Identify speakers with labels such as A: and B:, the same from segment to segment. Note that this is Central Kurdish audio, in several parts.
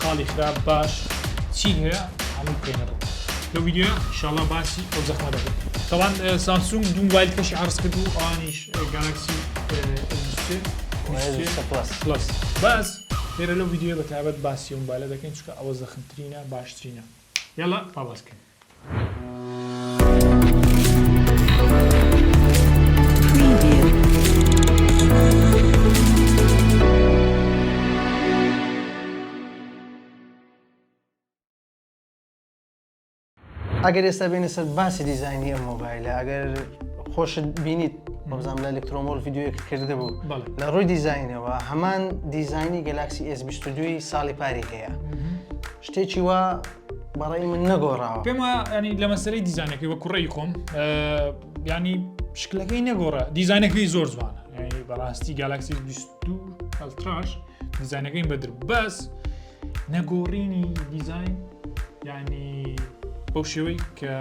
A: خاڵی خراپ باش چی هەیە هەمووی بکەینە ڕوو لەو ڤیدیۆیە ئیشاڵڵا باسی ئەو زەخمە دەکەین تەوان سامسونگ دوو موبایل کەشی عەرز کرد و ئەوانیش گالاکسی پلس
B: باس
A: لێرە لەو ڤیدیۆیە بە تایبەت باسی ئەو موبایلە دەکەین چونکە ئەوە زەخمترینە باشترینە یاڵڵا پاڵاس بکەین
B: ئەگەر ئێستا بێنە سەر باسی دیزایانی ئەم مۆبایلە ئەگەر خۆشت بینیت بەزانام لە ئەلکترۆمۆل یددیوەک کردە بوو لە ڕووی دیزینەوە هەمان دیزانی گەلاکسی S22 ساڵی پاری هەیە شتێکی وا بەڕای من نەگۆڕاوە پێم وایە ینی لە مەسەری
A: دیزانەکەی وە کوڕی خۆم ینی شکلەکەی نەگۆڕە دیزانەکەی زۆر جوانە بەڕاستی گالاکسی 22 ئەلتراش دیزانەکەی بەدر بەس نەگۆڕینی دیزین ینی بەو شێوەی کە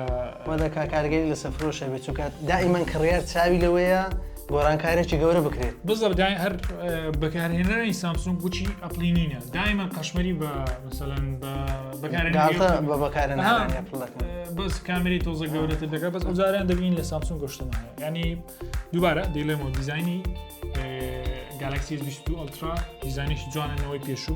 A: مەدەکە کارگەری
B: لە سەفرۆشە بێت چونکە دائیمەن کڕیار چاوی لەوەیە گۆڕانکارێکی گەورە بکرێت. بزڕگای هەر
A: بەکارهێنەرانی سامسونگ گوچی ئەپڵی نینە دایمە قەشمەری بە مثلەن بە بەکارێن
B: بەس
A: کامری تۆزە گەورەتر دەکات بەس ئەوزاریان دەبین لە سامسونگ گەشتمان ینی دووبارە دیلێمەوە دیزانی گالکسی 20 ئەلترا دیزانیش جوانەوەی پێشوو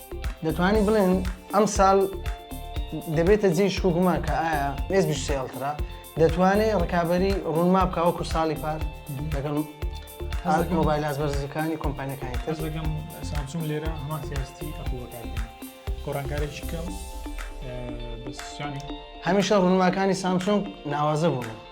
B: دەتوانین بڵێن ئەم ساڵ دەبێتە جێ شکوگومان کە ئایا مێز بشتێڵترا دەتوانێت ڕکابی ڕوونما بکە وەکو ساڵی پار لەگەڵ مۆبایل ئاز بەرزەکانی کۆمپانیەکانی تر لەگەم سامسونگ
A: لێرە هەمان سیاستی ئەپڵەکان گۆڕانکارێکی کەم هەمیشە
B: ڕوونماکانی سامسۆنگ ناوازە بوون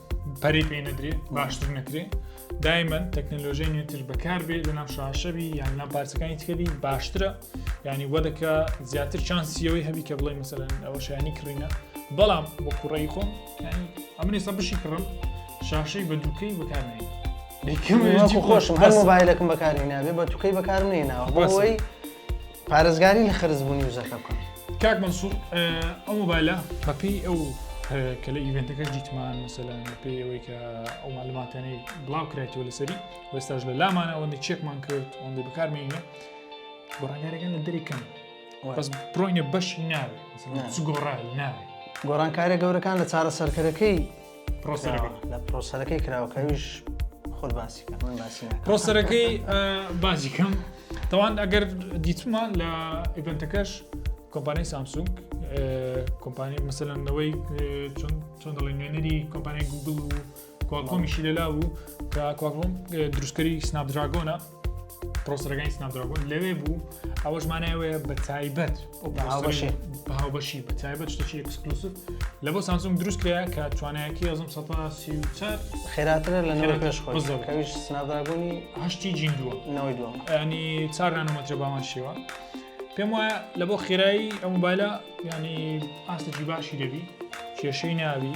A: پەری پێ نەدرێ باشتر نەکرێ دایمەن تەکنەلۆژیای نوێتر بەکار بێ لە نام شاشەبی یان نام پارچەکانی تکەبی باشترە ینی وەدەکە زیاتر چانسیەوەی هەبی کە بڵێ مەسەرەن ئەوە شایانی کڕینە بەڵام بۆ کوڕی خۆم ئەمنی سە بشی کڕم شاشەی بە دووکەی بەکارێن خۆشم هەر
B: مۆبایلەکەم بەکاری نابێ بە توکەی بەکارم نێناوە بۆی پارێزگاری لە خەرزبوونی وزەکە بکەن. کاک مەنسوور
A: ئەو مۆبایلە بەپێی ئەو کە لە ئیڤنتەکەش دیتمان مەسەلان پێی ئەوەی کە ئەو معلوماتانەی بڵاو کرایەوە لەسەری وێستاش لە لامان ئەوەندە چێکمان کرد ئەوەندە بەکارمێنە گۆڕانگارەکان لە دەریکەن بەس بڕۆینە بەشی ناوێت گۆڕا ناوێت گۆڕانکارە گەورەکان
B: لە چارە سەرکەرەکەی لە پرۆسەرەکەی کراوەکەویش خۆت باسی
A: من باسی پرۆسەرەکەی باجی کەم تاوان ئەگەر دیتمان لە ئیڤنتەکەش کۆمپانی سامسونگ کۆمپانی مەسەلەنەوەی چۆن چۆن دەڵێن نوێنەری کۆمپانی گوگل و کۆمیشی لەلا بوو کە کۆم دروستکەری سناپ دراگۆنە پرۆسەرەکانی سناپدراگۆن لەوێ بوو ئەوەش مانایەوەیە بە تایبەت هاوبەشی بە تایبەت شتەکی ئەکسکلوسف لە بۆ سانسۆم دروست کرا کە توانایەکی ئەزم سە خێراترە لە
B: نەوە پێش خۆزەکەویش سناپدراگۆنی هەشتی جین دووە
A: نەوەی دووە ئەنی
B: چار
A: نانەمەترە بامان شێوە پێم وایە لە بۆ خێرایی ئەم مبایلە ینی ئاستێکی باشی دەبی کێشەی ناوی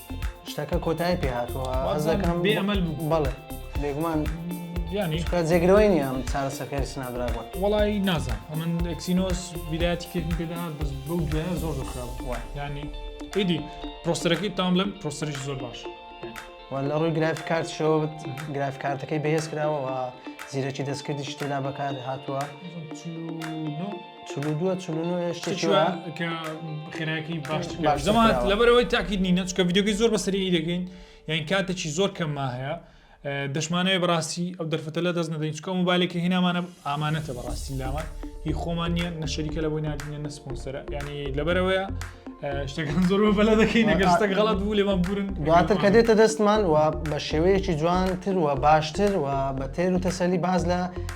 B: شتەکە کۆتایی پێ هاتووە حەز دەکەم بێ ئەمەل بوو بەڵێ
A: بێگومان
B: ینی
A: جێگرەوەی نیە ئەم
B: چارەسەکەی سنادراگۆن وڵی نازان
A: ئەمن ئەکسینۆس بیداتی کردن پێداات بەس بەو دوایە زۆر زۆر خراپ ینی ئیدی پرۆسەرەکەی تام لەم پرۆسەرش زۆر باش لە ڕووی
B: گرافی کارت شەوت گراف کارتەکەی بەهێز کراوەوە زیرەکی دەستکردی شتێدا بەکار هاتووە. چلودووە چلونۆ هێشتێکی وایە کە
A: خێراکی باش باش زەمان کراوە. لەبەرەوەی تاکیت نینە چکە ڤیددیوگەی زۆر بەسەری دەگەین یان کاتێکی زۆر کەمما هەیە ئە، دەشمانەوەی بەڕاستی ئەو دەرفەتە لە دەست نەدەین چکە موبایلێکی هینامانە ئامانەتە بەڕاستی لامان هی خۆمان نییە نە شەریکە لە بۆی نادینە نە سپۆنسەرە یعنی لەبەرەوەیە ئە، شتەکان زۆر بەلە دەکەین نەگەر شتەک غەڵات بوو لێمان بورن دواتر کە دێتە
B: دەستمان و بە شێوەیەکی جوانتر و باشتر و بە تێر و تەسەلی باز لە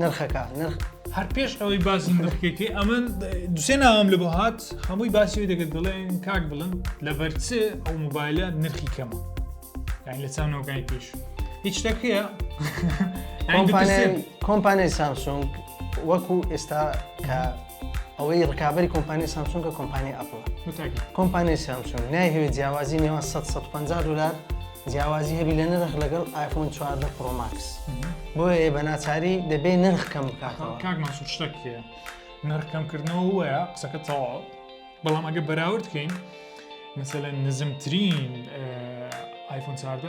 A: نرخەکە نرخ هەر پێش ئەوەی باسی نرخەکەی ئەمن دوسێ ناوام لە بۆ هات هەمووی باسی دەگەت دەڵێن کاک بڵن لە بەرچێ ئەو موبایلە نرخی کەمە یان لە چاونەوەگای پێش هیچ شتەکەیە
B: کۆمپانیای سامسونگ وەکو ئێستا کە ئەوەی ڕکابی کۆمپانی سامسونگە کۆمپانی ئەپڵ کۆمپانی سامسونگ نایهوێت جیاوازی نێوان 150 دلار جیاوازی هەبی لە نرخ لەگەڵ آیفۆن 14 پرۆماکس بۆیە بە ناچاری دەبێ نرخ کەم بکاتەوە کاک مەسوود شتێک هەیە
A: نرخ کەمکردنەوە وەیە قسەکە تەواو بەڵام ئەگە بەراورد بکەین مثلەن نزمترین آیفۆن 14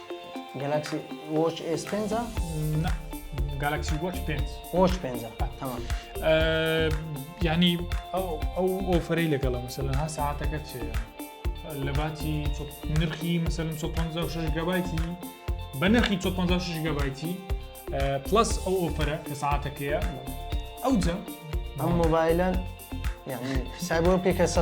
B: گەلاکسی وۆچ ئێس پێنجە؟ نا
A: گالاکسی وۆچ پێنج وۆچ پێنجە
B: تەمام
A: ینی ئەو ئەو ئۆفرەی لەگەڵە مەسەلەن ها ساعتەکە چێ لە باتی نرخی مەسەلم 156 گەبایتی بە نرخی 156 گەبایتی پلس ئەو ئۆفەرە کە ساعتەکەیە ئەوجە ئەم
B: مۆبایلە سایبۆ پێکە سە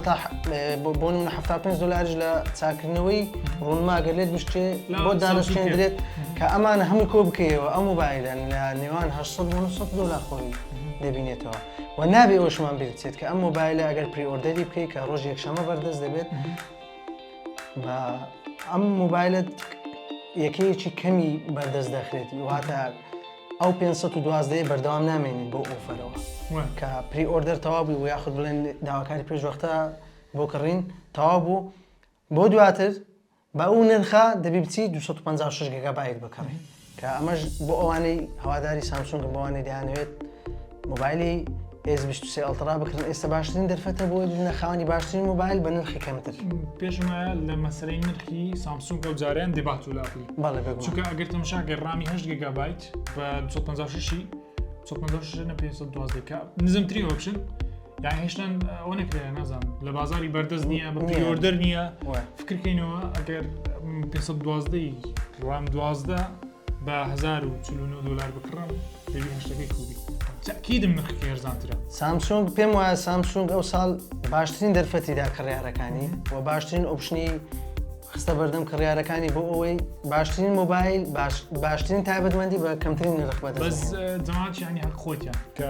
B: بۆ من 75 دلارش لە چاکردنەوەی ڕوونماگە لێت بشتێ بۆ دانشتێندرێت کە ئەمان هەموو کۆ بکەیەوە ئەم مۆبایلە لە نێوان 1970 دلار خۆی دەبینێتەوە و نابێ ئەوشمان بێت کە ئەم مۆبایلە ئەگەر پریۆردەری بکەیت کە ڕۆژ یەکشەمە بەردەست دەبێت بە ئەم موبایلت یەکەیەکی کەمی بەردەست دەخرێت واتە ئەو 512 بەردەوام نامێنین بۆ ئۆفەرەوە کە پری ئۆردەر تەوا بوو و یاخود بڵێن داواکاری پێشوەختە بۆ کڕین تەوا بوو بۆ دواتر بە ئەو نرخە دەبی بچی 256 گەگابایت بکڕی کە ئەمەش بۆ ئەوانەی هەواداری سامسونگن بەوانەی دەیانەوێت مۆبایلی ئێس 23 ئەڵترا بکرن ئێستا باشترین دەرفەتە بۆ بوونە خاوەنی باشترین مۆبایل بە نرخی کەمتر پێشمە لە
A: مەسەرەی نرخی سامسونگ ئەو جاریان دەبات و لاپی بەڵێ بگو چونکە ئەگەر
B: تەمشاگە
A: ڕامی هەشت گەگابیت بە 256 512 نزمتری ئۆپشن داهێشتن ئەوە نکرێت نازان لە بازاری بەردەست نییە بەۆردەر نییە فکرکەینەوە ئەگەر 512 ڕام دوازدە بە 1940 دلار بکڕم پێشتەکەی کوبی تاکیدم نرخ هێرزانترە سامسونگ پێم
B: وایە سامسونگ ئەو ساڵ باشترین دەرفەتیدا کڕیارەکانی و باشترین ئۆپشنی خستە بەردەم کڕیارەکانی بۆ ئەوەی باشترین مۆبایل باشترین تایبەتمەندی بە کەمترین نرخ بەدە بەس جماعات
A: ینی هەر خۆتیان کە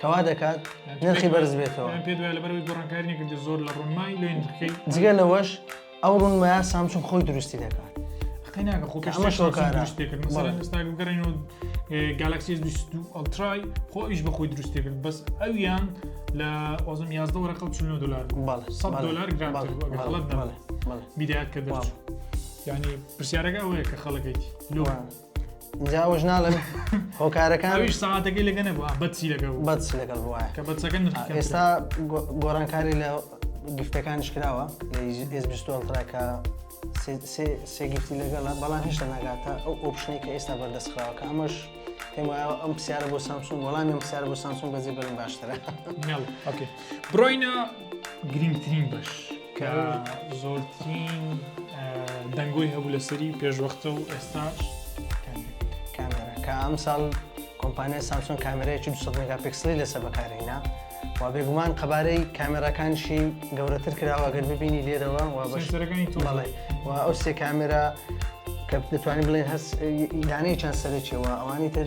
B: کەوا دەکات نرخی بەرز بێتەوە پێ لەبەرەوەی گۆڕانکاری
A: نەکردی زۆر لە ڕوونمای لێ نرخی جگە لەوەش
B: ئەو ڕوونمایە سامسون خۆی دروستی دەکات قەیناکە خۆ
A: ئەمە شۆکار دروست کرد مەسەرە ئێستا گەڕێنەوە گالاکسی ئەلترای خۆ ئیش بە خۆی دروستی کرد بەس ئەویان لە ئۆزم یازدە وەرەقە چ دلار دلار گرانڵەت بیدات کە دەچوو ینی پرسیارەکە ئەوەیە کە خەڵەکەیت لۆ جا
B: ئەوەش ناڵێم هۆکارەکان ئەویش سەعاتەکەی
A: لەگە نەبووە بەچی لەگە بوو بەچ لەگەڵ بووە کە
B: بەچەکە نرخ کەمترە. ئێستا
A: گۆ-
B: گۆڕانکاری لە گفتەکانیش کراوە لە ئێس بیستوەڵترا کە سێ- سێ- سێ گفتی لەگەڵە بەڵام هێشتا ناگاتە ئەو ئۆپشنی کە ئێستا بەردەست خراوە کە ئەمەش پێم وایە ئەم پرسیارە بۆ سامسونگ وەڵامی ئەم پرسیارە بۆ سامسونگ بەجێ بەرن باشترە ناو ئۆکێ
A: بڕۆینە گرنگترین بەش کە زۆرترین دەنگۆی هەبوو لەسەری پێشوەختە و ئێستاش
B: کامێرا کە ئەم ساڵ کۆمپانیای سامسۆن کامێرەیەکی 200 مگاپیکسلی لەسەر بەکارهینا و بێگومان قەبارەی کامێراکانشی گەورەتر کراوە گەر ببینی لێرەوە و بەشەکانی توڵێ و ئەو سێ کامێرا کە دەتوانین بڵێن هەست دانەی چەند سەرێکەوە ئەوانی تر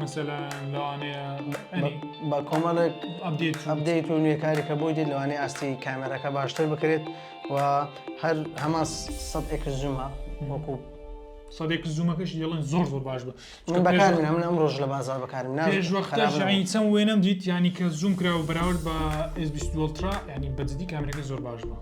A: مەسەلا لەوانەیە بە
B: کۆمەڵێک ئەبدەیت و نوێکارێکە بۆی دێت لەوانەیە ئاستی کامێراەکە باشتر بکرێت و هەر هەمان سەد ئەکس زوومە وەکو سەدێک
A: زوومەکەش یڵن زۆر زۆر باش بە من بەکار من ئەم
B: ڕۆژ لە بازار بەکارم ناژعینچەم
A: وێنم دیت ینی کە زووم کراوە بەراورد بە ئێزبیستوەڵترا ینی بەجددی کامرەکە زۆر باش بە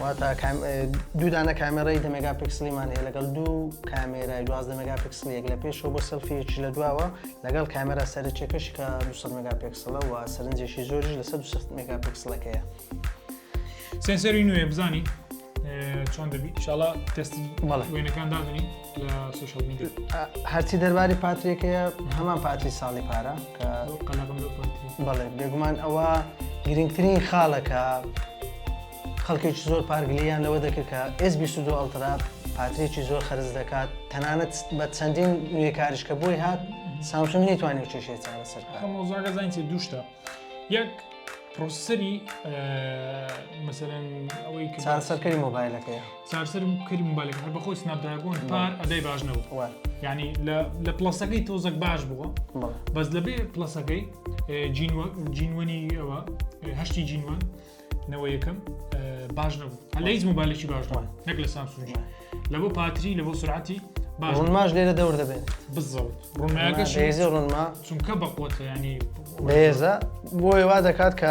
B: واتە دوو دانە کامێرای دە مێگا پکسلیمان هەیە لەگەڵ دوو کامێرای دوازدە مێگا پکسلیەک لە پێشەوە بۆ سەلفیەکی لە دواوە لەگەڵ کامێرا سەرچێکەش کە 200 مێگا پێکسلە و سەرنجێکی زۆریش لە 160 مێگا پکسلەکەیە
A: سێنسەری نوێ بزانین چۆن دەبی شڵا تەستی وێنەکان دادنی هەرچی دەرباری
B: پاترێکەیە هەمان پاتری ساڵی پارە کە
A: بەڵێ بێگومان ئەوە
B: گرنگترین خاڵەکە خەڵکێکی زۆر پارگلیان لەوە دەکرد کە ئس 22 ئەڵترا پاترێکی زۆر خەرز دەکات تەنانەت بە چەندین نوێ کاریش کە بۆی هات سامسون نەیتوانانی
A: و
B: چێشێ چارە
A: سەر مۆزاگەزانین
B: چێ دووشتا
A: یەک پرۆسەری مەسەرەن ئەوەی چارەسەرکەری
B: مۆبایلەکەی چارسەرم کرد
A: موبایلەکە هەر بەخۆی سناپ دراگۆن پار ئەدای باش نەبوو وە یعنی لە
B: لە
A: پڵەسەکەی تۆزەک باش بووە بەڵێ بەس لەبێ پڵەسەکەی اه، جینوە- جینوەنی ئەوە اه، هەشتی جینوان نەوە یەکەم اه، باش نەبوو هەر لە هیچ موبایلێکی باش نەبوو نەک لە سامسونگی لە بۆ پاتری لە بۆ سرعەتی باش نەبوو. ڕونماش لێرە دەور دەبێت
B: بزەوت
A: ڕوونمایەکەش بەهێزی ڕونما
B: چونکە بەقوەتە
A: ینی بەهێزە
B: بۆیە وا دەکات کە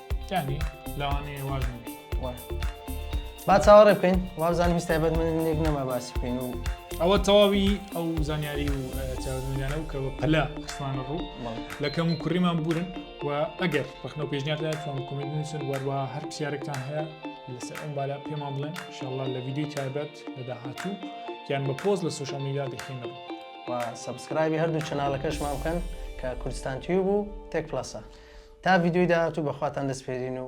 A: یعنی لەوانەیە واز نەبێت وایە
B: با چاوەڕێ بکەین وابزانم هیچ تایبەت من لێک نەما باسی بکەین و ئەوە تەواوی
A: ئەو زانیاری و چاوەدنیانە و کە بە پەلا خستمانە ڕوو لە کەم و کوڕیمان بورن و ئەگەر ڕخنە پێشنیاردا فۆن کومنت نووسن وەروە هەر پرسیارێکتان هەیە لەسەر ئەم بالا پێمان بڵێن شڵە لە ویددیوی تایبەت لە داهاتوو یان بە پۆز لە سوشال میدا دەخینە ڕوو و
B: سبسکرایبی هەردوو چناالەکەشمان بکەن کە کوردستان تیوب و تێک پلسە تا ڤیدیۆی داهاتوو بەخواتان دەسپێرین و.